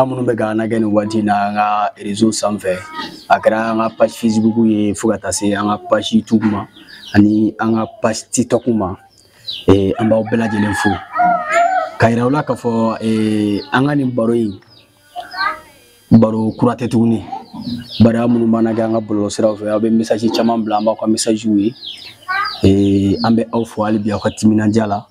aw minnu bɛ k'an lajɛ nin waati in na an ka rezo sanfɛ a kɛra an ka page facebook ye fo ka taa se an ka page youtube ma ani an ka page tiktok ma eh, an b'aw bɛɛ lajɛlen fo k'a yira aw la k'a fɔ eh, an ka nin baro in baro kura tɛ tuguni bari aw minnu b'an lajɛ an ka bɔlɔlɔ siraw fɛ aw bɛ message caman bila an b'aw ka messagew ye eh, an bɛ aw fo hali bi aw ka timinandiya la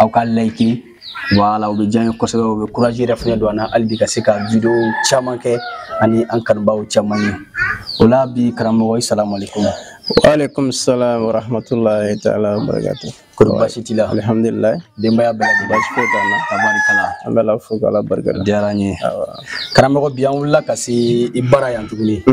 aw ka like wala o bɛ diya an ye kosɛbɛ o bɛ courage yɛrɛ fana don an na hali bi ka se ka video caman kɛ ani an kanubaaw caman ye o la bi karamɔgɔ asalamu aleykum waaleykum salam wa rahmatulahi taala wa barakatu kɔrɔ baasi t'i la alihamdulilayi denbaya bɛɛ lajɛlen baasi foyi t'an na tabarikala an bɛ ala fo ka ala barika da diyara n ye karamɔgɔ bi an wulila ka se i bara yan tuguni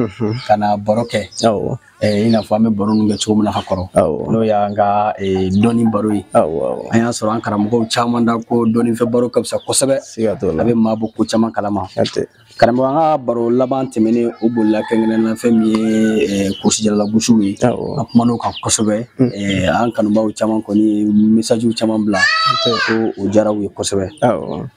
ka na baro kɛ awɔ i n'a fɔ an bɛ baro ninnu kɛ cogo min na ka kɔrɔ n'o y'an ka dɔnni baro ye an y'a sɔrɔ an karamɔgɔw caman da ko dɔnnifɛ baro ka fisa kosɛbɛ a bɛ maa bɔ ko caman kalama karamɔgɔ an ka baro laban tɛmɛnen o bolila kɛrɛnkɛrɛnnenya la fɛn min ye kurusijala lagosiw ye an kumana o kan kosɛbɛ an kanubaaw caman kɔni messagew caman bila ko o diyara u ye kosɛbɛ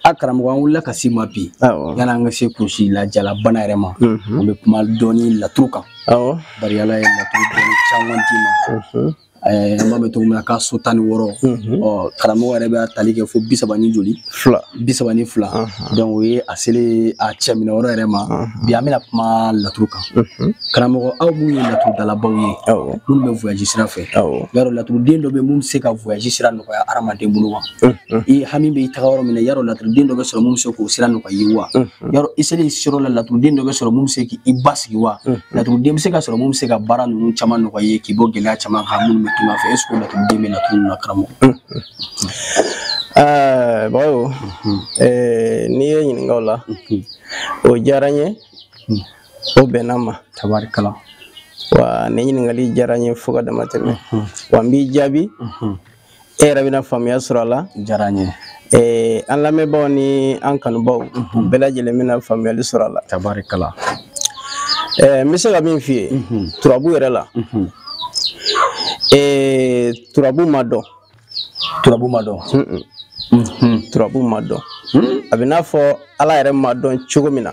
a karamɔgɔ an wulila ka s'i ma bi yan'an ka se kurusi la jalabana yɛrɛ ma an bɛ kuma dɔɔni laturu kan awɔ bari ala ye laturu dɔnni caman d'i ma eh, an b'a mɛn cogo min na k'a so tan ni wɔɔrɔ ɔ karamɔgɔ yɛrɛ bɛ a tali kɛ fo bi saba ni joli fila bi saba ni fila donc o ye a selen a cɛ minɛ yɔrɔ yɛrɛ ma bi an bɛna kuma laturu kan karamɔgɔ aw minnu ye laturudalabaw ye awɔ minnu bɛ voyage sira fɛ awɔ yarɔ laturuden dɔ bɛ mun bɛ se ka voyage sira nɔgɔya hadamaden bolo wa i hami bɛ i taga yɔrɔ min na yarɔ laturuden dɔ bɛ sɔrɔ mun bɛ se k'o sira nɔgɔya i ye wa Mm. yarɔ i selen sigiyɔrɔ la laturuden dɔ bɛ sɔrɔ mun bɛ se k'i basigi wa mm. laturuden bɛ se ka sɔrɔ mun bɛ se ka baara ninnu caman nɔgɔya i ye k'i bɔ gɛlɛya caman na minnu bɛ tunga fɛ est-ce que laturuden bɛ laturu ninnu na karamɔgɔ. Mm. Ah, bawo mm-hmm. eh, n'i ye n ɲininka o la mm-hmm. o diyara n ye o bɛnna n ma. tabarikala. wa nin ɲininkali diyara n ye fo ka dama tɛmɛ mm-hmm. wa n b'i jaabi. e yɛrɛ bɛna faamuya sɔrɔ a la diyara n ye ee, an lamɛnbaaw ni an kanubaw mhm. bɛɛ lajɛlen bɛna faamuyali sɔrɔ a la tabarikala ee, n bɛ se ka min f'i ye mhm. turabu yɛrɛ la mhm. ee, turabu ma dɔn turabu ma dɔn turabu ma dɔn hmm? a bɛ n'a fɔ ala yɛrɛ ma dɔn cogo min na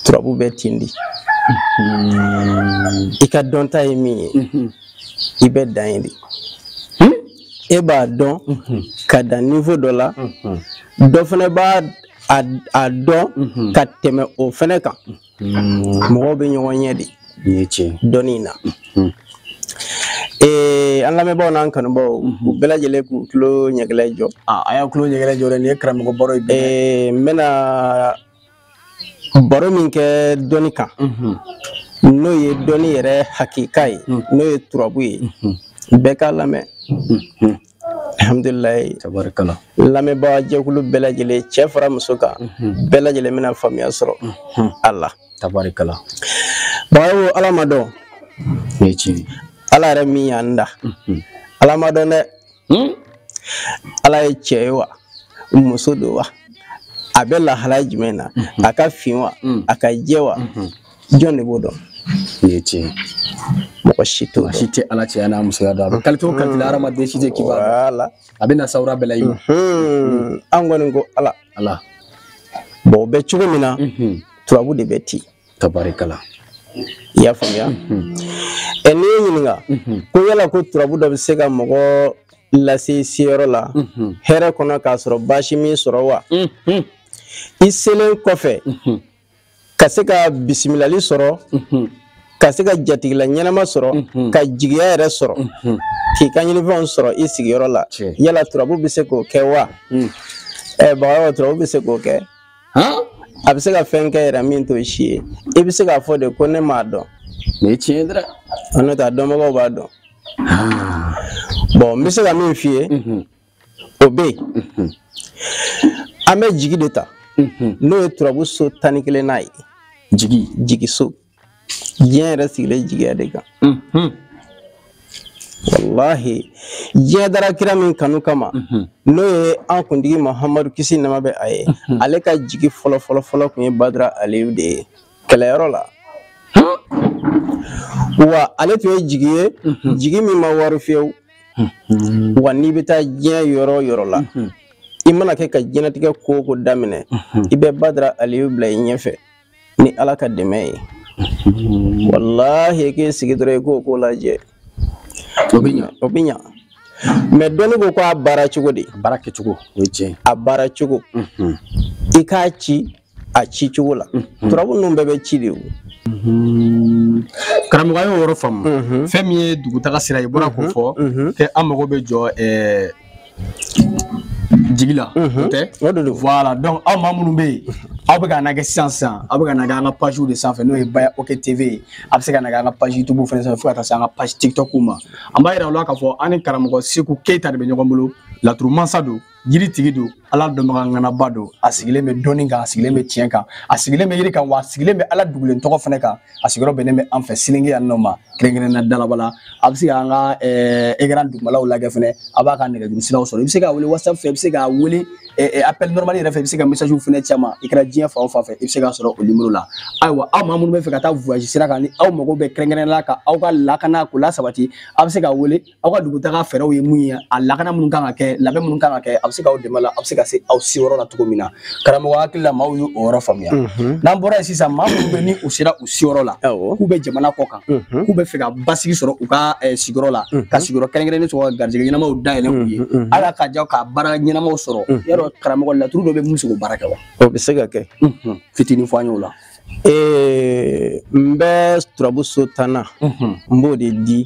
turabu bɛ ten de i ka dɔnta ye min ye i bɛ dan yen de e b'a dɔn ka dan niveau dɔ la dɔ fana b'a dɔn ka tɛmɛ o fana kan mɔgɔw bɛ ɲɔgɔn ɲɛ de dɔnni in na ee an lamɛnbaaw n'an kanubaaw u bɛɛ lajɛlen k'u tulo ɲɛgɛlɛ jɔ a y'aw tulo ɲɛgɛlɛ jɔ dɛ nin ye karamɔgɔ baro ye n bɛna baro min kɛ dɔnni kan n'o ye dɔnni yɛrɛ hakika ye n'o ye turabu ye bɛɛ k'a lamɛn alhamdulilayi tabarikala lamɛnbaga jɛkulu bɛɛ lajɛlen cɛ fara muso kan bɛɛ lajɛlen bɛna faamuya sɔrɔ a la tabarikala bagayo ala ma dɔn nin ye tiɲɛ ala yɛrɛ min y'an da ala ma dɔn dɛ hmm? ala ye cɛ ye wa muso don wa a bɛ lahalaya jumɛn na mhm. a ka fin wa mhm. a ka jɛ wa mhm. jɔn de b'o dɔn nin ye tiɲɛ mɔgɔ si t'o dɔn si tɛ ala cɛya n'a musoya dɔn a bɛ kalite o kalite la hadamaden si tɛ kiba a bɛ na sawura bɛɛ la i ma an kɔni ko ala ala bɔn o bɛ cogo min na turabu de bɛ ten tabarikala i y'a faamuya ɛ n'i ye ɲininka ko yala ko turabu dɔ bɛ se ka mɔgɔ lase i seyɔrɔ la hɛrɛ kɔnɔ k'a sɔrɔ baasi m'i sɔrɔ wa i selen kɔfɛ ka se ka bisimilali sɔrɔ ka se ka jatigila ɲɛnama sɔrɔ ka jigiya yɛrɛ sɔrɔ k'i ka ɲinifɛnw sɔrɔ i sigiyɔrɔ la yala turabu bɛ se k'o kɛ wa ɛ bagayogo turabu bɛ se k'o kɛ a bɛ se ka fɛn kɛ yɛrɛ min t'o si ye i bɛ se k'a fɔ de ko ne m'a dɔn nin ye tiɲɛ ye dɛrɛ an n'o tɛ a dɔnbagaw b'a dɔn bɔn n bɛ se ka min f'i ye o bɛ yen an bɛ jigi de ta n'o ye turabu so tan ni kelennan ye jigi jigiso diɲɛ yɛrɛ sigilen jigiya de kan walahi diɲɛ dara kira min kanu kama mhm. n'o ye an kuntigi mahamadu kisi ni nɛɛma bɛ a ye mhm. ale ka jigi fɔlɔ fɔlɔ fɔlɔ tun ye badara aliyu de ye kɛlɛyɔrɔ la wa ale tun ye jigi ye mhm. jigi min ma waaro fiyewu wa n'i bɛ taa diɲɛ yɔrɔ o yɔrɔ la i mana kɛ ka diɲɛlatigɛ ko o ko daminɛ i bɛ badara aliyu bila i ɲɛfɛ ni ala ka dɛmɛ ye walahi k'i sigi dɔrɔn i k'o ko lajɛ o bɛ ɲa o bɛ ɲa mais dɔnni ko ko a baara cogo de a baara kɛcogo o ye tiɲɛ a baara cogo i k'a ci a ci cogo la turabu ninnu bɛɛ bɛ ci de o karamɔgɔ y'o yɔrɔ faamu fɛn min ye dugutaga sira ye i bɔra k'o fɔ kɛ an mago bɛ jɔ jigi la o tɛ o de don voilà donc aw maa minnu bɛ yen aw bɛ k'an lajɛ sisan sisan aw bɛ k'an lajɛ an ka page de sanfɛ n'o ye baya ok tv ye a bɛ se k'an lajɛ an ka page youtube fana sanfɛ fo ka taa se an ka page tiktok ma an b'a yira aw la k'a fɔ an ni karamɔgɔ seku keyita de bɛ ɲɔgɔn bolo laturu mansa don yiri tigi don ala dɔnbaga ŋanaba don a sigilen bɛ dɔnni kan a sigilen bɛ tiɲɛ kan a sigilen bɛ yiri kan wa a sigilen bɛ ala dugulen tɔgɔ fana kan a sigiyɔrɔ bɛnnen bɛ an fɛ selenge yan nɔ ma kɛrɛnkɛrɛnnenya dalaba la a bɛ se ka an ka ekran dugumalaw lajɛ fɛnɛ a b'a ka nɛgɛjuru siraw sɔrɔ i bɛ se k'a wele whatsapp fɛ i bɛ se k'a wele appel normal yɛrɛ fɛ i bɛ se ka message fɛnɛ c'a ma i kɛra diɲɛ fan o fan fɛ i bɛ se k'a sɔrɔ o nimoro la ayiwa aw maa minnu bɛ fɛ ka taa voyage sira kan ni aw mago bɛ kɛrɛnkɛrɛnnenya la ka aw ka lakana k'o lasabati a bɛ se k'a wele aw ka dugutaga fɛɛrɛw ye mun ye a lakana minnu kan ka kɛ labɛn minnu kan ka kɛ a bɛ se k'aw dɛmɛ la a bɛ se ka se aw seyɔrɔ la cogo min na karamɔgɔ hakili la maaw y'o yɔrɔ faamuya mhm. n'an bɔra yen sisan maa minnu bɛ ni u sera u seyɔrɔ la k'u bɛ jamana kɔ kan mhm. k'u bɛ fɛ ka basigi sɔrɔ u ka eh, sigiyɔrɔ la mhm. ka sigiyɔrɔ kɛrɛnkɛrɛnnen sɔrɔ ka garijɛgɛ ɲɛnamaw dayɛlɛ u ye ala ka ja ka baara ɲɛnamaw sɔrɔ yala karamɔgɔ laturu dɔ bɛ min se k'o baara kɛ wa o bɛ se ka kɛ fitinin fɔ an y'o la Ee n bɛ turabu so tannan n b'o de di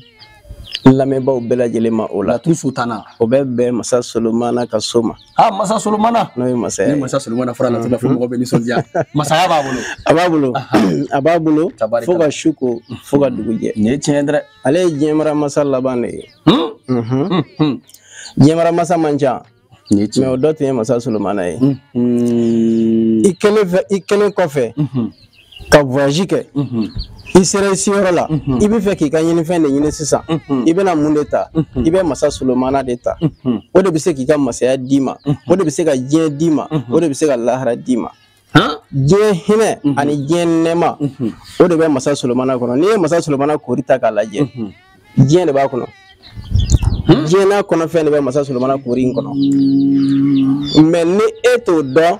lamɛnbaaw bɛɛ lajɛlen ma o la laturu so tannan o bɛ bɛn masa solomana ka so ma ha masa solomana n'o ye masaya ni masa solomana fɔra laturu la fo mɔgɔ bɛ nisɔndiya masaya b'a bolo a b'a bolo a b'a bolo fo ka su ko fo ka dugu jɛ nin ye tiɲɛ dɛ ale ye diɲɛmara masa laban de ye diɲɛmara masa man ca mais o dɔ tun ye masa solomana ye i kɛlen fɛ i kɛlen kɔfɛ ka voyage kɛ i sera i seyɔrɔ la i bɛ fɛ k'i ka ɲinifɛn de ɲini sisan i bɛna mun de ta i bɛ masa solomana de ta o de bɛ se k'i ka masaya d'i ma o de bɛ se ka diɲɛ d'i ma o de bɛ se ka lahara d'i ma diɲɛ hinɛ mhm. ani diɲɛ nɛɛma mhm. o de bɛ masa solomana kɔnɔ n'i ye masa solomana koori ta k'a lajɛ mhm. diɲɛ de b'a kɔnɔ hmm? diɲɛ n'a kɔnɔfɛn de bɛ masa solomana koori in kɔnɔ mais ni e t'o dɔn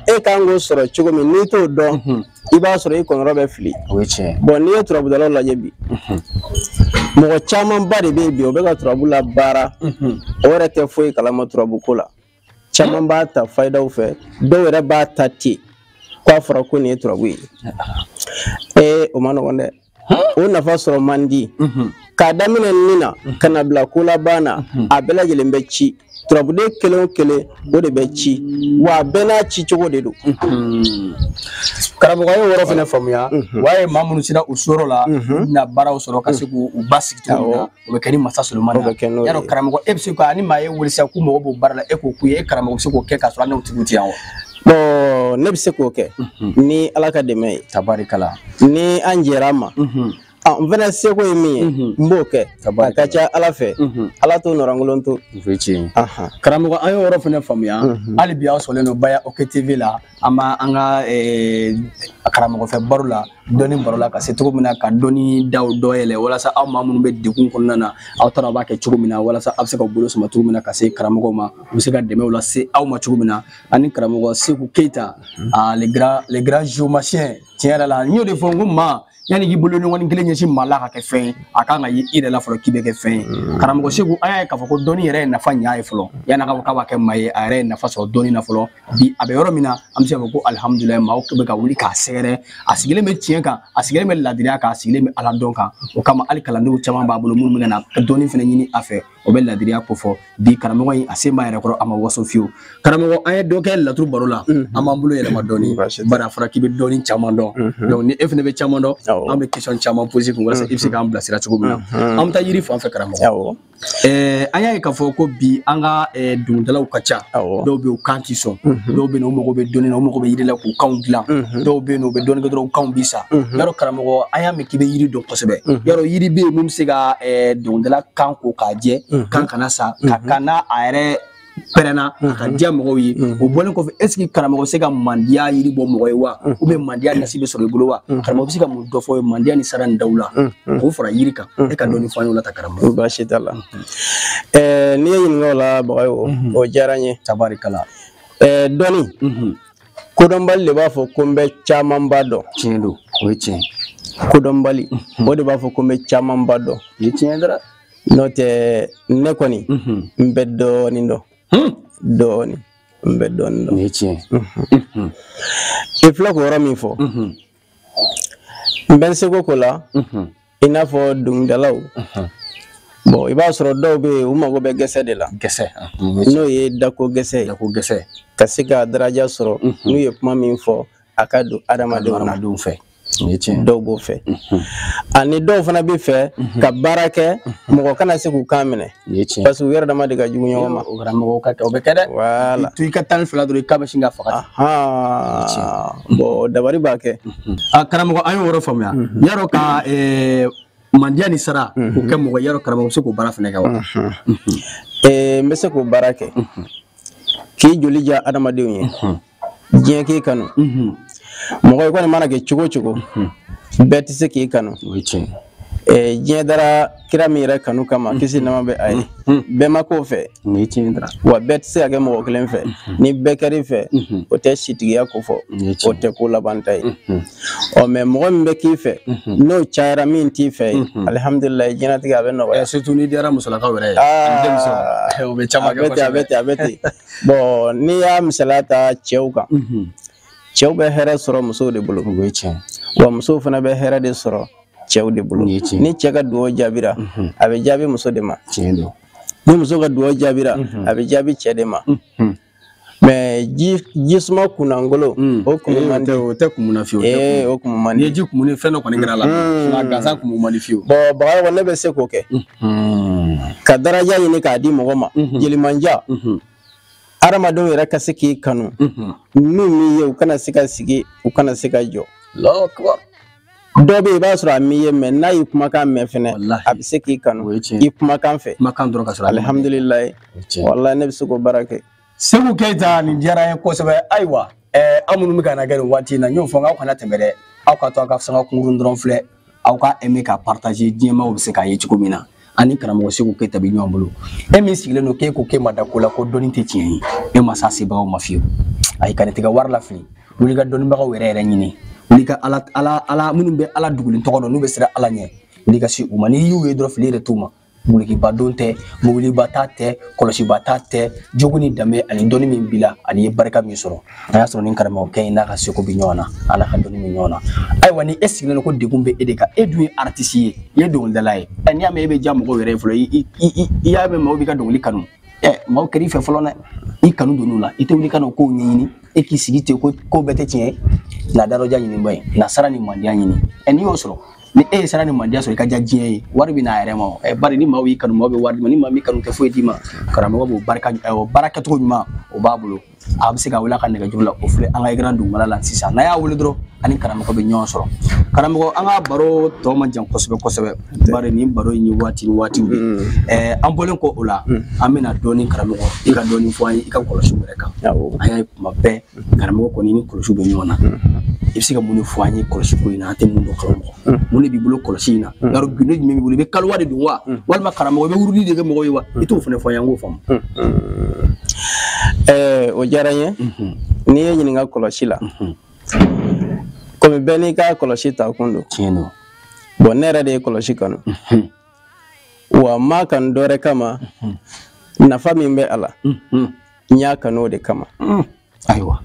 e kan k'o sɔrɔ cogo min n'i t'o dɔn i b'a sɔrɔ i kɔnɔrɔ bɛ fili bon n'i ye turabudalaw lajɛ bi mɔgɔ camanba de bɛ yen bi o bɛ ka turabu labaara o yɛrɛ tɛ foyi kalama turabu ko la caman b'a ta fayidaw fɛ dɔw yɛrɛ b'a ta ten k'a fɔra ko nin ye turabu ye ee o ma nɔgɔn dɛ o nafa sɔrɔ man di mhm. k'a daminɛ ni na mhm. ka na bila ko laban na mhm. a bɛɛ lajɛlen bɛ ci turabuden kelen o kelen o de bɛ ci wa a bɛɛ n'a ci cogo de don karamɔgɔ y'o yɔrɔ fana faamuya wa ye maa minnu sera u seyɔrɔ la u na baaraw sɔrɔ ka se k'u basigi cogo min na o bɛ kɛ ni masa solomana o bɛ kɛ n'o ye yala karamɔgɔ e bɛ se ka ni maa y'e wele sisan k'u mago b'o baara la e k'o k'u ye e karamɔgɔ bɛ se k'o kɛ k'a sɔrɔ hali n'o tigiw tɛ yan wa. bon ne bɛ se k'o kɛ ni ala ka dɛmɛ ye tabarikala ni an jɛra a ma Ah, n fana seko ye min ye mhm. n b'o kɛ a ka ca ala fɛ mhm. ala t'o nɔrɔnkolon to karamɔgɔ an y'o yɔrɔ fana faamuya mhm. hali bi aw sɔrɔlen don baya oke tv la an b'a an ka eh, karamɔgɔfɛ baro la dɔnni baro la ka se cogo min na ka dɔnni daw dɔ yɛlɛ walasa aw maa minnu bɛ degun kɔnɔna na aw t'a dɔn aw b'a kɛ cogo min na walasa aw bɛ se ka bolo sama cogo min na ka se karamɔgɔw ma u bɛ se ka dɛmɛw lase aw ma cogo min na ani karamɔgɔ seku keyita le grand le grand géomancien tiɲɛ yɛrɛ la n y'o de fɔ n ko maa yanni k'i bolokɔni kelen ɲɛsin maa la ka kɛ fɛn ye a ka kan ka ye i yɛrɛ la fɔlɔ k'i bɛ kɛ fɛn ye mm. karamɔgɔ seku an y'a ye k'a fɔ ko dɔnni yɛrɛ ye nafa ɲa ye fɔlɔ yanni a ka fɔ k'a b'a kɛ maa ye a yɛrɛ ye nafa sɔrɔ dɔnni na fɔlɔ bi a bɛ yɔrɔ min na an bɛ se ka fɔ ko alihamudulilayi maaw bɛ ka wuli k'a sɛgɛrɛ a sigilen bɛ tiɲɛ kan a sigilen bɛ laadiriya kan a sigilen bɛ ala dɔn kan o kama hali kalandenw caman b'a bolo minnu bɛ ka na dɔnni fana ɲini a fɛ o bɛ ladiriya ko fɔ bi karamɔgɔ in a se b'a yɛrɛ kɔrɔ a ma waso fiyewu karamɔgɔ an ye dɔ kɛ laturu baro la mhm. an b'an bolo yɛlɛma dɔɔni bari a fɔra k'i bɛ dɔnni caman dɔn mhm. donc ni e fana bɛ caman dɔn an bɛ question caman poser kun walasa i bɛ se k'an bilasira cogo min na mhm. an bɛ taa yiri fan fɛ karamɔgɔ Eh, an y'a ye k'a fɔ ko bi an ka eh, dɔnkilidalaw ka ca dɔw bɛ yen u kan ti sɔn mhm. dɔw bɛ yen u mago bɛ dɔnni na u mago bɛ yiri la k'u kanw dilan mhm. dɔw bɛ yen u bɛ dɔɔni kɛ dɔrɔn u kanw bi sa y'a mhm. dɔn karamɔgɔ an y'a k'i bɛ yiri dɔn kosɛbɛ y'a dɔn yiri bɛ yen min bɛ se ka dɔnkilidala kan ko k'a jɛ kan kana sa ka kan n'a a yɛrɛ pɛrɛnna ka diya mɔgɔw ye o bɔlen kɔfɛ est-ce que karamɔgɔ bɛ se ka mandiya yiri bɔ mɔgɔ ye wa ou bien mandiya nasi bɛ sɔrɔ i bolo wa karamɔgɔ bɛ se ka mun dɔ fɔ an ye mandiya ni sara ni dawula k'o fara yiri kan e ka dɔɔni fɔ an ye o la ta karamɔgɔ baasi t'a la n'i ye n ɲininka o la bagayogo o diyara n ye tabarikala dɔnni kodɔnbali de b'a fɔ ko n bɛ camanba dɔn tiɲɛ don o ye tiɲɛ kodɔnbali o de b'a fɔ ko n bɛ camanba dɔn o ye tiɲɛ dara n'o tɛ ne kɔni n bɛ dɔɔnin dɔn dɔɔnin n bɛ dɔɔnin dɔn o ye tiɲɛ i filɛ k'o yɔrɔ min fɔ n bɛ n seko k'o la i n'a fɔ dɔnkilidalaw bon i b'a sɔrɔ dɔw bɛ yen u mago bɛ gɛsɛ de la gɛsɛ n'o ye dako gɛsɛ dako gɛsɛ ka se ka daraja sɔrɔ n'u ye kuma min fɔ a ka don adamadenw fɛ dɔw b'o fɛ ani dɔw fana bɛ fɛ ka baara kɛ mɔgɔ kana se k'u kan minɛ Nin ye tiɲɛ parce que u yɛrɛ dama de ka jugu ɲɔgɔn ma o karamɔgɔ ka kɛ o bɛ kɛ dɛ voilà to i ka tan ni fila dɔrɔn i kan bɛ sin ka faga bon dabari b'a kɛ a karamɔgɔ an y'o yɔrɔ faamuya y'a dɔn ka mandiya ni sara k'o kɛ mɔgɔ y'a dɔn karamɔgɔ bɛ se k'o baara fana kɛ wa n bɛ se k'o baara kɛ k'i joli diya adamadenw ye diɲɛ k'i kanu mɔgɔ i kɔni mana kɛ cogo cogo bɛɛ tɛ se k'i kanu diɲɛ dara kira min yɛrɛ kanu kama kisi ni nɛɛma bɛ a ye bɛɛ ma k'o fɛ wa bɛɛ tɛ se ka kɛ mɔgɔ kelen fɛ ni bɛɛ kɛr'i fɛ o tɛ sitigiya ko fɔ o tɛ ko labanta ye ɔ mais mɔgɔ min bɛ k'i fɛ n'o cayara min t'i fɛ ye alihamudulilayi diɲɛnatigɛ a bɛ nɔgɔya surtout n'i diyara musolakaw yɛrɛ ye a bɛ ten a bɛ ten a bɛ ten bɔn n'i y'a misaliya ta cɛw kan mhm. cɛw bɛ hɛrɛ sɔrɔ musow de bolo wa musow fana bɛ hɛrɛ de sɔrɔ cɛw de bolo ni cɛ ka dugawu jaabira mhm. a bɛ jaabi muso de ma ni muso ka dugawu jaabira mhm. a bɛ jaabi cɛ de ma mɛ ji ji suma kunnangolo mm. o kumu man di o tɛ kumu na fiyewu ee o kumu man di ni ji kumuna fɛn dɔ kɔni kɛr'a la mm. nka gansan kumu man di fiyewu bɔn bagayogo ne bɛ se k'o kɛ mm. Hmm. ka daraja ɲini k'a di mɔgɔ ma mhm. jelimanja mhm. adamadenw yɛrɛ ka se k'i kanu mhm. n'u m'i ye u kana se ka sigi u kana se ka jɔ dɔ bɛ yen i b'a sɔrɔ a m'i ye mɛ n'a y'i kumakan mɛn fɛnɛ a bɛ se k'i kanu i kumakan fɛ alihamdulilayi walayi ne bɛ se k'o baara kɛ segu keyita nin diyara n ye kosɛbɛ ayiwa eh, aw minnu bɛ ka na kɛ nin waati in na n y'o fɔ n k'aw kana tɛmɛ dɛ aw ka to aw ka sanga kunkurun dɔrɔn filɛ aw ka aimer ka partager diɲɛmaaw bɛ se k'a ye cogo min na an ni karamɔgɔ segu keyita bɛ ɲɔgɔn bolo e min sigilen don k'e ko k'e ma da ko la ko dɔnni tɛ tiɲɛ ye e ma s'a sebagaw ma fiyewu ayi kana t'i ka wari lafili wuli ka dɔnnibagaw yɛrɛ yɛrɛ ɲini wuli ka ala ala ala minnu bɛ ala dugulen tɔgɔ dɔn n'u bɛ siran ala ɲɛ wuli ka se u ma n'i y'u ye dɔrɔn fili yɛrɛ t'u ma Dulokiba don tɛ mɔbiliba ta tɛ kɔlɔsiba ta tɛ jogo ni danbe ani dɔnni min b'i la ani i ye barika min sɔrɔ a y'a sɔrɔ ni karamɔgɔkɛ in n'a ka seko bɛ ɲɔgɔn na ala ka dɔnni bɛ ɲɔgɔn na ayiwa ni e sigilen don ko degun bɛ e de kan e dun ye aritisi ye i ye dɔnkilidala ye ɛ n'i y'a mɛn e bɛ diya mɔgɔw yɛrɛ ye fɔlɔ i y'a mɛn mɔgɔw b'i ka dɔnkili kanu ɛ mɔgɔw kɛr'i fɛ fɔlɔ dɛ i kanu donn'u la i tɛ wuli ka n'o kow ɲɛɲini e k'i sigi ten ko ko bɛɛ tɛ tiɲɛ ye na daraja ɲininba ye na sara ni mandiya ɲini ɛ n'i y'o sɔrɔ ni e ye sara ni mandiya sɔrɔ i ka diya diɲɛ ye wari bɛ n'a yɛrɛ ma o eh, bari ni maaw y'i kanu maaw bɛ wari d'i ma ni maa m'i kanu tɛ foyi d'i ma karamɔgɔ b'o baara kɛ eh, o baara kɛcogo ɲuman o b'a bolo a bɛ se k'a wele a ka nɛgɛjuru la o filɛ an ka ekran dugumala la sisan n'a y'a wele dɔrɔn a ni karamɔgɔ bɛ ɲɔgɔn sɔrɔ karamɔgɔ an ka baro tɔ man jan kosɛbɛ kosɛbɛ bari nin baro in ye waati ni waatiw de mm. eh, an bɔlen kɔ o la mm. an bɛna dɔɔni karamɔgɔ i ka dɔɔni fɔ an ye i ka kɔlɔsiw yɛrɛ kan an y'a ye kuma bɛɛ karamɔgɔ kɔni ni kɔlɔsi bɛ ɲɔgɔn na i bɛ se ka mun de fɔ an ye kɔlɔsi ko in na an tɛ mun dɔn karamɔgɔ mun de b'i bolo kɔlɔsi in na yɔrɔ gundo jumɛn b'i bolo i bɛ kaliwa de don wa walima karamɔgɔ i bɛ wurudi de kɛ mɔgɔw ye wa i t'o fana fɔ an ye an k'o faamu ɛɛ o diyara n ye n'i ye n ɲininka kɔlɔsi la komi bɛɛ n'i ka kɔlɔsi ta kun don tiɲɛ don bɔn ne yɛrɛ de ye kɔlɔsi kanu wa n m'a kanu dɔ wɛrɛ kama nafa min bɛ a la n y'a kanu o de kama mm. ayiwa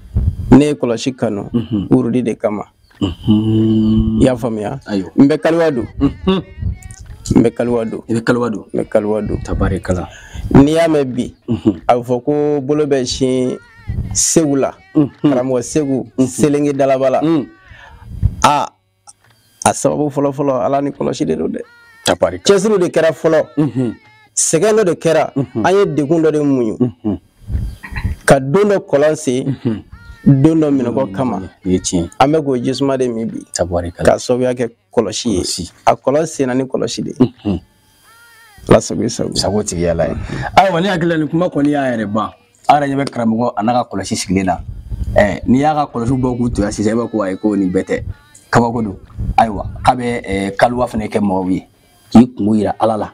ne ye kɔlɔsi kanu mhm. wurudi de kama mhm. i y'a faamuya n bɛ kaliwa don mhm. n bɛ kaliwa don i bɛ kaliwa don n bɛ kaliwa don tabarikala n'i y'a mɛn bi a bɛ fɔ ko bolo bɛ sin segu la karamɔgɔ segu selenge dalabala a a sababu fɔlɔ fɔlɔ ala ni kɔlɔsi de don dɛ cɛsiriw de kɛra fɔlɔ mhm. sɛgɛn dɔ de kɛra mhm. an ye degun dɔ de muɲu mhm. ka don dɔ kɔlɔn sen don dɔ minnɔgɔ kama an bɛ k'o jisuma de min bi k'a sababuya kɛ kɔlɔsi ye a kɔlɔn senna ni kɔlɔsi de ye ala sago i sago sago tigi y'ala ye ayiwa ne hakili la nin kuma kɔni y'a yɛrɛ ban aw yɛrɛ ɲɛ bɛ karamɔgɔ a n'a ka kɔlɔsi sigilen na ɛɛ n'i y'a ka kɔlɔsi bɔ k'u to yan sisan i b'a ko ayi ko nin bɛɛ tɛ kabako don ayiwa k'a bɛ ɛɛ kaliwa fana kɛ mɔgɔw ye k'i kunko yira ala la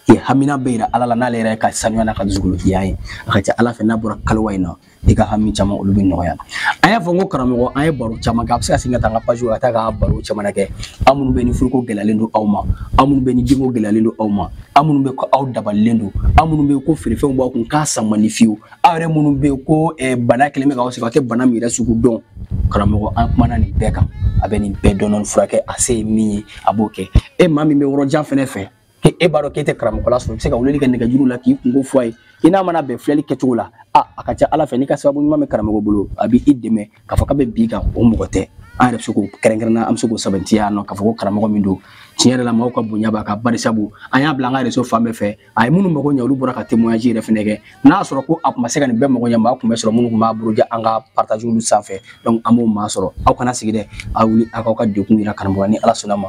k'i hamina bɛɛ yira ala la n'ale yɛrɛ ka sanuya n'a ka dusukolo jɛya ye a ka ca ala fɛ n'a bɔra kaliwa in na i ka hami caman olu bɛ nɔgɔya an y'a fɔ n ko karamɔgɔ an ye baro caman kɛ a bɛ se ka segin ka taa an ka page ka taa ka baro caman kɛ aw minnu bɛ ni furuko gɛlɛyalen don aw ma aw minnu bɛ ni denko gɛlɛyalen don aw ma aw minnu bɛ ko aw dabalilen don aw minnu bɛ ko feerefɛnw b'aw kun k'a san man di fiyewu aw yɛrɛ minnu bɛ ko eh, bana kelen bɛ k'aw sɛgɛn aw tɛ bana min yɛrɛ sugu dɔn karamɔgɔ an kumana nin bɛɛ kan a bɛ nin bɛɛ dɔɔnin furakɛ a se ye min ye a b'o kɛ e maa min bɛ yɔrɔ jan fɛnɛ fɛ ke e b'a dɔn k'e tɛ karamɔgɔla sɔrɔ i bɛ se ka weleli kɛ nɛgɛjuru la k'i kunko fɔ a ye i n'a mana bɛn filɛli kɛcogo la a a ka ca ala fɛ n'i ka sababu ɲuman bɛ karamɔgɔ bolo a bɛ i dɛmɛ k'a fɔ k'a bɛ bin i kan o mɔgɔ tɛ an yɛrɛ bɛ se k'o kɛrɛnkɛrɛnna an bɛ se k'o sɛmɛntiya yan nɔ k'a fɔ ko karamɔgɔ min don tiɲɛ yɛrɛ la maaw ka bonya b'a kan barisabu an y'a bila an ka réseau fan bɛɛ fɛ a ye minnu mago ɲɛ olu bɔra ka témoignage yɛrɛ fɛnɛ kɛ n'a y'a sɔrɔ ko a tun ma se ka nin bɛɛ mago ɲɛ maa tun bɛ sɔrɔ minnu tun b'a buruja an ka partage olu sanfɛ donc an m'o maa sɔrɔ aw kana sigi dɛ aw wuli aw k'aw ka degun yira karamɔgɔ ni ala sɔnna ma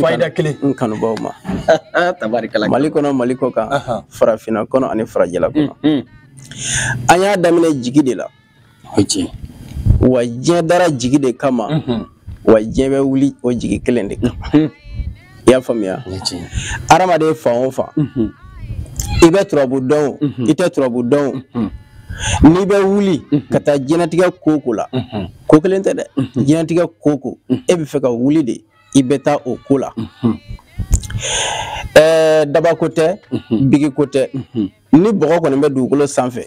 fayida kelen n kanubaw ma tabarikala mali kɔnɔ mali kɔ kan farafinna kɔnɔ ani farajɛla kɔnɔ mm, mm. an y'a daminɛ jigi de la o tiɲɛ wa diɲɛ dara jigi de kama mm-hmm. wa diɲɛ bɛ wuli o jigi kelen de kama mm-hmm. i y'a faamuya adamaden fan o fan mm-hmm. i bɛ turabu dɔn o i tɛ turabu dɔn o n'i bɛ wuli mhm. ka taa diɲɛnatigɛ ko o ko la mhm. ko kelen tɛ dɛ mhm. diɲɛnatigɛ ko o ko e bɛ fɛ ka wuli de i bɛ taa o ko la ɛɛ dabako tɛ biki ko tɛ ni bɔgɔ kɔni bɛ dugukolo sanfɛ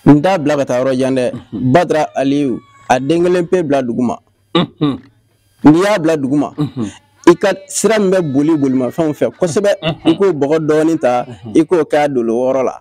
n t'a bila ka taa yɔrɔ jan dɛ badara aliyu a den kelen pe bila duguma n'i y'a bila duguma i ka sira min bɛ boli bolimafɛnw fɛ kosɛbɛ i k'o bɔgɔ dɔɔni ta i k'o kɛ a dolo wɔɔrɔ la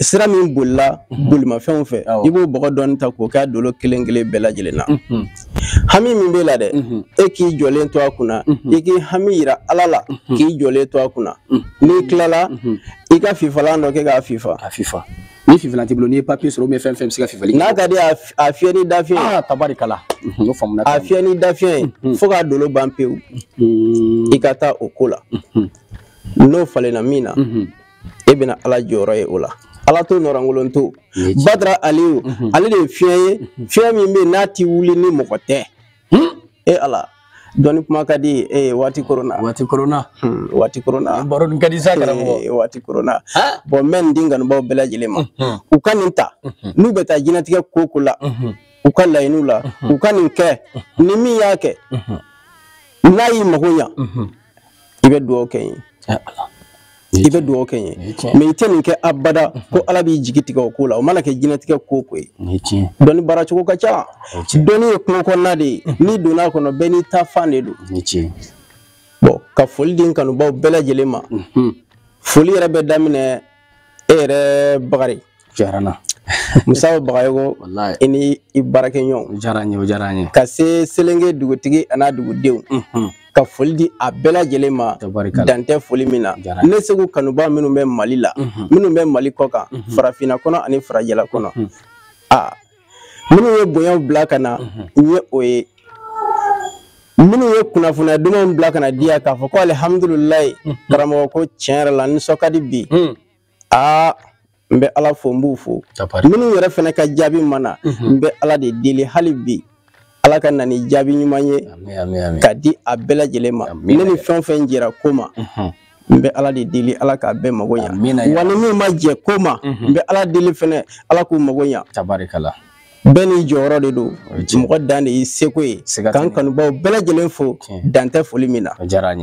sira min bolila mhm. bolimafɛnw fɛ i b'o bɔgɔ dɔɔni ta k'o k'a dolo kelen kelen bɛɛ lajɛlen na mhm. hami min b'e la dɛ mhm. e k'i jɔlen to a kunna i k'i hami yira ala la k'i jɔlen to a kunna n'i tilala i ka fifalan dɔ kɛ k'a fifa a fifa ni fifalan t'i bolo n'i ye papier sɔrɔ ou bien fɛn fɛn bɛ se ka fifali n'a ka di a fiyɛ ni dafiɲɛ ye ah, tabarikala n y'o faamuna a fiyɛ ni dafiɲɛ ye fo k'a dolo ban pewu i ka taa o ko la n'o falenna min na e bɛna ala jɔyɔrɔ ye o la ala to nɔrɔnkolon to badara aliyu mhm. ale de ye fiɲɛ ye mhm. fiɲɛ min bɛ yen n'a ti wuli ni mɔgɔ tɛ hmm? e ala dɔnni kuma ka di e ye waati koronna waati koronna hmm, waati koronna baro nin ka di sa karamɔgɔ waati koronna bɔn n bɛ nin di n kanubaaw bɛɛ lajɛlen ma mhm. u ka nin ta n'u bɛ taa diɲɛlatigɛ ko o ko la u ka laɲiniw la u ka nin kɛ ni min y'a kɛ n'a y'i mago ɲa i bɛ dugawu kɛ n ye i bɛ dugawu kɛ n ye mɛ i tɛ nin kɛ abada ko ala b'i jigi tigɛ o ko la o mana kɛ diɲɛlatigɛ ko o ko ye dɔnni baara cogo ka ca dɔnni ye kungo kɔnɔna de ye n'i donna a kɔnɔ bɛɛ n'i ta fan de don bɔn ka foli di n kanubaw bɛɛ lajɛlen ma foli yɛrɛ bɛ daminɛ e yɛrɛ bakari diyara n na musa bagayogo walayi i ni i baarakɛɲɔgɔnw o diyara n ye o diyara n ye ka se selenge dugutigi an'a dugudenw Mhm. ka foli di a bɛɛ lajɛlen ma tabarikala dan tɛ foli min na Jara. ne seku kanubaa minnu bɛ mali la Mhm. minnu bɛ mali kɔ kan Mhm. farafinna kɔnɔ ani farajɛla kɔnɔ Mhm. a minnu ye bonyaw bila ka na Mhm. n ye o ye minnu ye kunnafoniya dumanw bila ka na di yan k'a fɔ ko alihamdulilayi karamɔgɔ ko tiɲɛ yɛrɛ la n nisɔn ka di bi Mhm. aa n bɛ ala fo n b'u fo minnu yɛrɛ fana ka jaabi ma na mhm. n bɛ ala de deli hali bi ala ka na ni jaabi ɲuman ye ka di a bɛɛ lajɛlen ma ne ni fɛn o fɛn jɛra ko ma mhm. n bɛ ala de deli ala k'a bɛɛ mago ɲa wa ni min ma jɛ ko ma mhm. n bɛ ala deli fɛnɛ ala k'u mago ɲa bɛɛ n'i jɔyɔrɔ de don mɔgɔ dan de y'i seko ye k'an kanubaw bɛɛ lajɛlen fo dan tɛ foli min na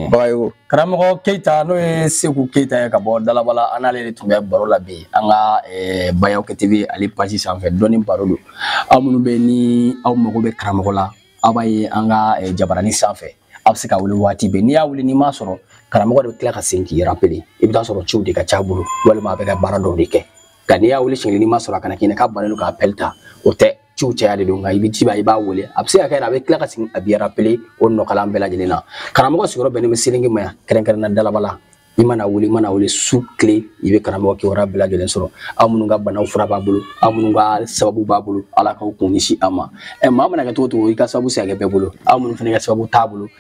bagayogo karamɔgɔ keyita n'o ye seku keyita ye ka bɔ dalabala an n'ale de tun bɛ baro la bi an ka eh, bayaw kɛ tv ale pasi sanfɛ dɔnni baro don aw minnu bɛ ni aw mago bɛ karamɔgɔ la aw b'a ye an ka eh, jabaranin sanfɛ aw bɛ se k'a wuli waati bɛɛ n'i y'a wuli n'i m'a sɔrɔ karamɔgɔ de bɛ tila ka segin k'i rapele i bɛ t'a sɔrɔ ciw de ka c'a bolo walima a bɛ ka baara dɔw de kɛ nka n'i y'a wele siɲɛ n'i m'a sɔrɔ a kana k'i na k'a bannen don ka apɛli ta o tɛ ciw caya de don nka i bɛ ci i b'a wele a bɛ se ka kɛ a bɛ tila ka segin a b'i rapele o nɔgɔlan bɛɛ lajɛlen na karamɔgɔ sigiyɔrɔ bɛnnen bɛ selenge ma yan kɛrɛnkɛrɛnna dalabala i mana wuli i mana wuli su tile i bɛ karamɔgɔ kibaruya bɛɛ lajɛlen sɔrɔ aw minnu ka banaw fura b'a bolo aw minnu ka sababu b'a bolo ala k'aw kun ɲɛsin a ma ɛ maa mana kɛ cogo o cogo i ka sababu se ka kɛ bɛɛ bolo aw minnu fana ka sababu t'a bolo